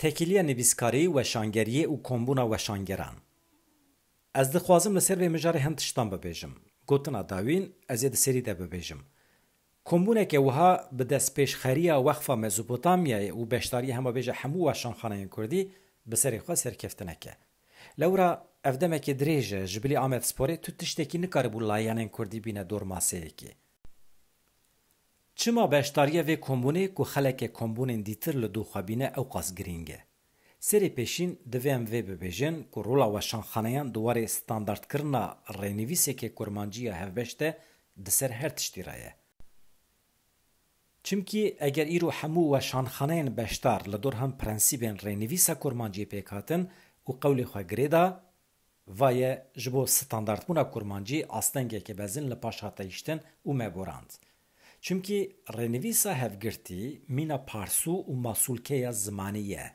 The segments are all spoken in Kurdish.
Tekîliya nivîskarî, weşangeriyê û kombûna weşangeran. Ez dixwazim li ser vê mijarê hin tiştan bibêjim. Gotina dawîn ez ê di serî de bibêjim. Kombûneke wiha bi destpêşxeriya Weqfa Mezopotamyayê û beşdarîya hemabêje hemû weşanxaneyên kurdî bi serê xwe serkeftinek e. Lewra ev demekê dirêj e, ji bilî Amedsporê tu tiştekî nikaribû layanên kurdî bîne dor maseyekê. Çima beşdariya vê kombûnê ku xeleke kombûnên dîtir li dû xwe bîne ewqas girîng e? Serê pêşîn divê em vê bibêjin ku rola weşanxaneyan di warê standardkirina rênivîsekê kurmancî ya hevbeş de di ser her tiştî re ye. Çimkî eger îro hemû weşanxaneyên beşdar li dorhem prensîbên rênivîsa kurmanciyê pêk hatin û qewlê xwe girê da, va ye ji bo standardbûna kurmancî astengeke bezin li paş hat teyiştin û me gorand. Çimkî rênivîsa hevgirtî mîna parsû û masûlkeya zimanî ye.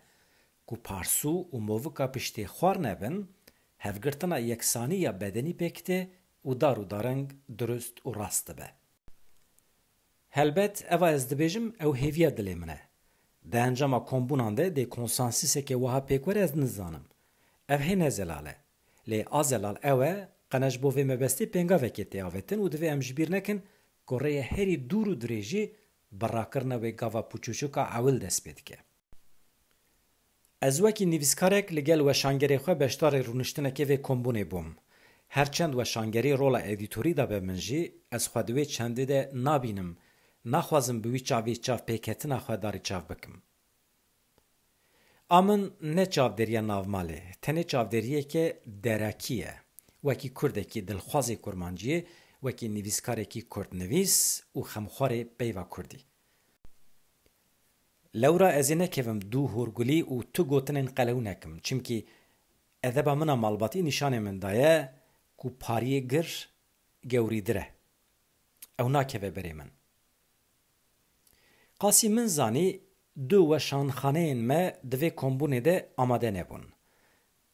Ku parsû û movika piştê xwar nebin, hevgirtina yeksanî ya bedenî pêk tê û dar û daring durust û rast dibe. Helbet eva ez dibêjim ew hêviya dilê min e. Di encama kombûnan de dê konsansîseke wiha pêk were ez nizanim. Ev hê ne zelal e. Lê a zelal ew e qene ji bo vê mebestê pêngavekê tê avêtin û divê em ji bîr nekin ku rêyê herî dûr û dirêjî bi rakirina wê gava pûçûçûk a ewil dest pê dike. Ez wekî nivîskarek li gel weşangerê xwe beşdarê rûniştinekê vê kombûnê bûm. Her çend weşangerî rola edîtorî dabe min jî, ez xwe di wê çendê de nabînim, naxwazim bi wî çavî çavpêketina xwe darî çav bikim. A min ne çavdêriya navmalê, tenê çavdêriyeke derakî ye. Wekî kurdekî dilxwazê kurmanciyê, wekî nivîskarekî kurdnivîs û xemxwarê peyva kurdî. Lewra ez ê nekevim dû horgulî û tu gotinên qelew nekim. Çimkî edeba min a malbatî nîşanê min daye ku pariyê gir gewrîdir e. Ew nakeve berê min. Qasî min zanî du weşanxaneyên me di vê kombûnê de amade nebûn.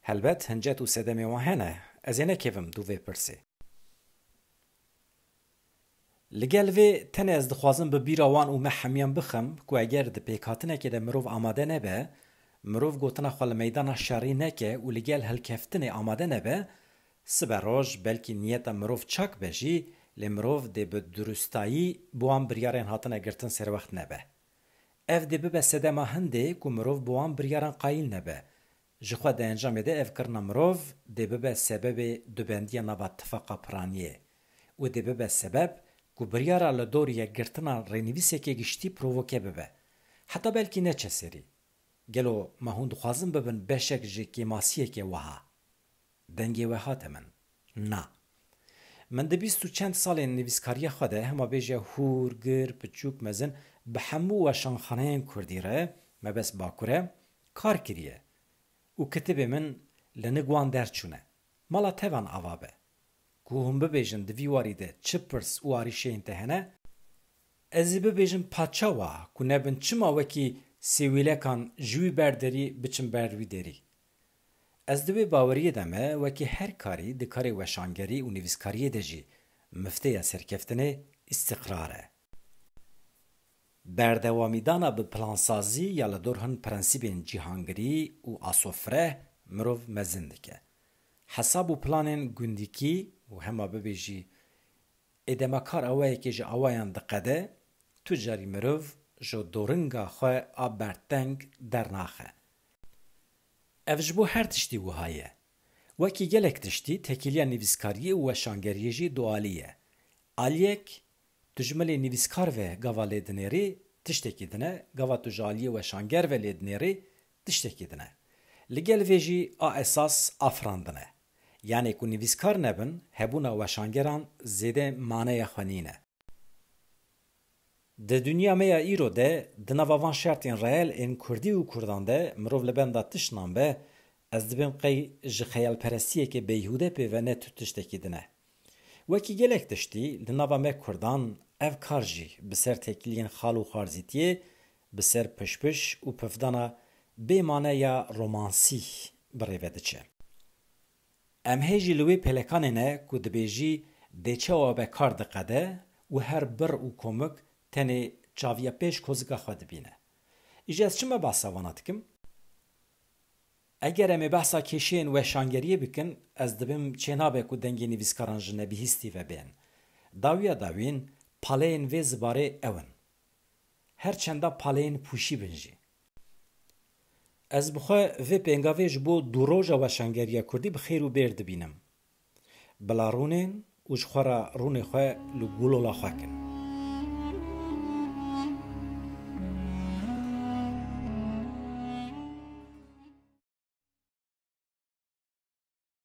Helbet hincet û sedemê wan hene, ez ê nekevim dû vê pirsê. Li gel vê tenê ez dixwazim bi bîra wan û me hemûyan bixim ku eger di pêkhatinekê de mirov amade nebe, mirov gotina xwe li meydana şerî neke û li gel hilkeftinê amade nebe, sibe roj belkî niyeta mirov çak be jî lê mirov dê bi durustayî bi wan biryarên hatine girtin serwext nebe. Ev dê bibe sedema hindê ku mirov bi wan biryaran qayîl nebe, Jixwe di encamê de ev kirina mirov dê bibe sebebê dubendiya nava tifaqa piraniyê û dê bibe sebeb ku biryara li dor yekgirtina rênivîsekê giştî provoke bibe. Heta belkî neçe serî. Gelo me hûn dixwazin bibin beşek ji kêmasiyekê wiha? Dengê we hate min. Na. Min di bîst û çend salên nivîskariya xwe de hema bêje hûr, gir, piçûk, mezin bi hemû weşanxaneyên kurdî re, mebest Bakur e, kar kiriye û kitêbê min li nig wan derçûne. Mala tevan ava be. Ku hûn bibêjin di vî warî de çi pirs û arîşeyên te hene, ez ê bibêjim paça wa ku nebin çima wekî sêwîlekan ji wî ber derî biçim ber wî derî. Ez di wê baweriyê de me wekî her karî di karê weşangerî û nivîskariyê de jî mifteya serkeftinê îstîqrar e. Berdewamîdana bi plansazî ya li dor hin prensîbên cîhangirî û asofireh mirov mezin dike. Hesab û planên gundîkî û hema bibê jî ê dema kar awayekê ji awayan diqede, tu carî mirov ji doringa xwe a berdteng dernaxe. Ev ji bo her tiştî wiha ye. Wekî gelek tiştî, tekîliya nivîskariyê û weşangeriyê jî dualî ye. Aliyek, tu ji milê nivîskar ve gava lê dinêrî, tiştekî din e, gava tu ji aliyê weşanger ve lê dinêrî, tiştekî din e. Li gel vê jî a esas afirandin e. Yanê ku nivîskar nebin, hebûna weşangeran zêde maneya xwe nîne. Di dinya me ya îro de, di nava van şertên reel ên kurdî û kurdan de mirov li benda tiştan be, ez dibim qey ji xeyalperestiyekê beyhûde pê ve ne tu tiştekî din e. Wekî gelek tiştî, li nava me kurdan ev kar jî bi ser têkiliyên xal û xwarzîtiyê, bi ser pişpiş û pifdana bê mane ya romansî bi rê ve diçe. Em hê jî li wê pêlekanê ne ku dibêjî dê çawa be kar diqede û her bir û komik tenê çaviya pêş kozika xwe dibîne. Îjî ez çima behsa wana dikim? Eger em ê behsa kêşeyên weşangeriyê bikin, ez dibim çênabe ku dengê nivîskaran ji nebihîstî ve bên. Dawiya dawîn, paleyên vê zibarê ew in. Her çenda paleyên pûşî bin jî. Ez bi xwe vê pêngavê ji bo Dûroja Weşangeriya Kurdî bi xêr û bêr dibînim. Bila rûnên û ji xwe re rûnê xwe li gûlola xwe kin.